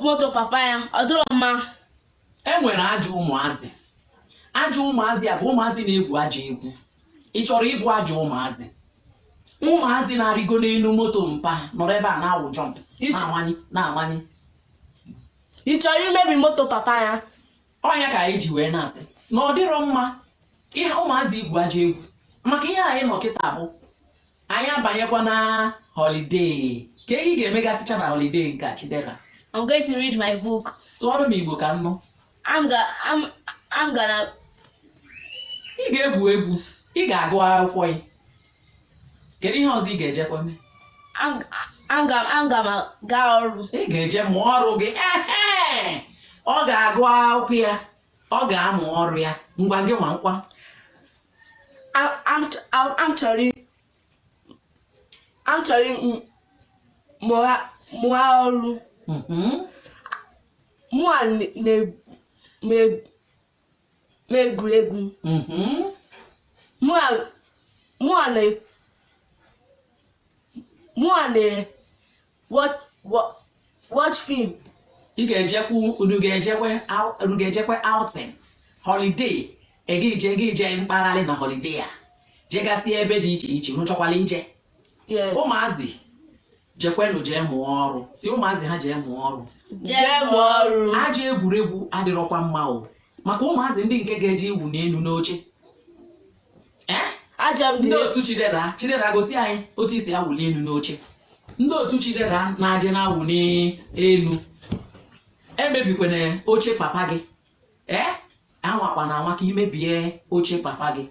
moto papa ya ọ dịrọ mma e nwere ajọ ụmụazị ajọ ụmụazị a bụ ụmụazị na-egwu ajọ egwu ị chọrọ ịbụ ajọ ụmụazị ụmụazị na-arịgo n'elu moto mpa nọrọ ebe a na-awụ jump na-amanye na-amanye ị chọrọ imebi moto papa ya ọ nya ka anyị ji wee na-asị na ọ dịrọ mma ihe ụmụazị igwu ajọ egwu maka ihe anyị nọ kịta bụ anyị abanyekwa na holiday kee ihe ị ga-emegasịcha na holiday nke a chidera I'm going to read my book. sụọrọ m igbo ka m nụ I'm gonna I'm I'm gonna ị ga-egwu egwu ị ga-agụ akwụkwọ ya kedu ihe ọzọ ị ga-ejekwa mee aga m aga ọrụ ị ga-eje mụọ ọrụ gị ọ ga-agụ akwụkwọ ya ọ ga-amụ ọrụ ya ngwa gị nwa kwa m chọrọ mụọ ọrụ mm-hmm. mụ a na egwuregwu mhm. mụ a na watch film ị ga-ejekwu unu ga-ejekwe unu ga-ejekwe outing holiday ị ga-eje ga-eje mkpagharị na holiday a jegasịa ebe dị iche iche unu chọkwala ije Yes. ụmụazị jekwanụ jee mụọ ọrụ sị ụmụazị ha jee mụọ ọrụ jee mụọ ọrụ ajọ egwuregwu adịrọkwa mma o maka ụmụazị ndị nke ga-eje ịwụ n'elu n'oche Eh? ajọ ndị ndị otu chidera chidera gosi anyị otu i si awụli elu n'oche ndị otu chidera na-eje na-awụ n'elu emebikwana oche papa gị ee anwakwana anwa ka i mebie oche papa gị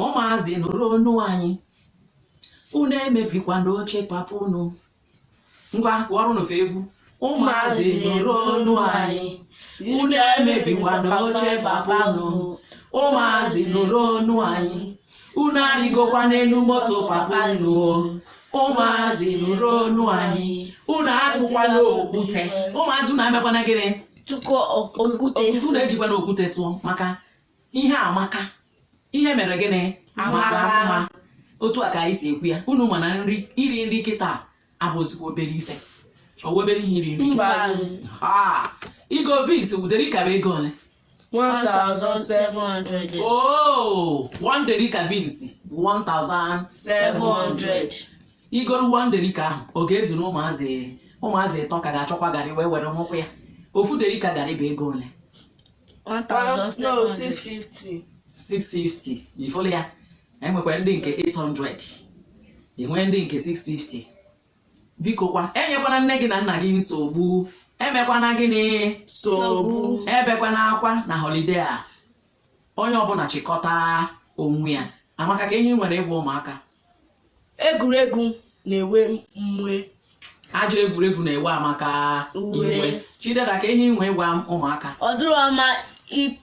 ụmụazị nụrụ onu anyị unu emebikwana oche papa unu ngwa kwụọrụ n'ofe egwu ụmụazị nụrụ onu anyị unu emebikwana oche papa unu ụmụazị nụrụ onu anyị unu arịgokwana elu moto papa unu ụmụazị nụrụ onu anyị unu atụkwana okwute ụmụazị unu emekwana gịnị tụkọ okwute unu ejikwana okwute tụọ maka ihe amaka ihe mere gịnị mara mma otu a ka anyị si ekwu ya unu ma na nri iri nri kịta abụzikwa obere ife ọwa obere ihe iri nri igo beans ofu derika bụ ego ole 1700 oh one derika beans 1700 i goro one derika ahụ ọ ga-ezuru ụmụazị ụmụazị ịtọ ka ga-achọkwa garị wee were ṅụkwu ya ofu derika garị bụ ego ole One thousand seven hundred. 650 ị fụlụ ya enwekwa ndị nke 800 enwee ndị nke 650 biko kwa enyekwana nne gị na nna gị nsogbu emekwana gịnị Nsogbu. ebekwana akwa na holiday a onye ọbụla chịkọta onwe ya amaka ka ihe i nwere ịgwa ụmụaka egwuregwu na-ewe m iwe ajọ egwuregwu na-ewe amaka iwe chidera ka ihe i nwe ịgwa ụmụaka ọ dịrọ mma i-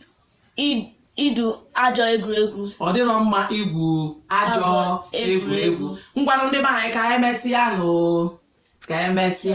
i- igwu ajọ egwuregwu ọ dịrọ mma igwu ajọ egwuregwu. ngwanụ ndị be anyị ka emesịa nụ ka emesịa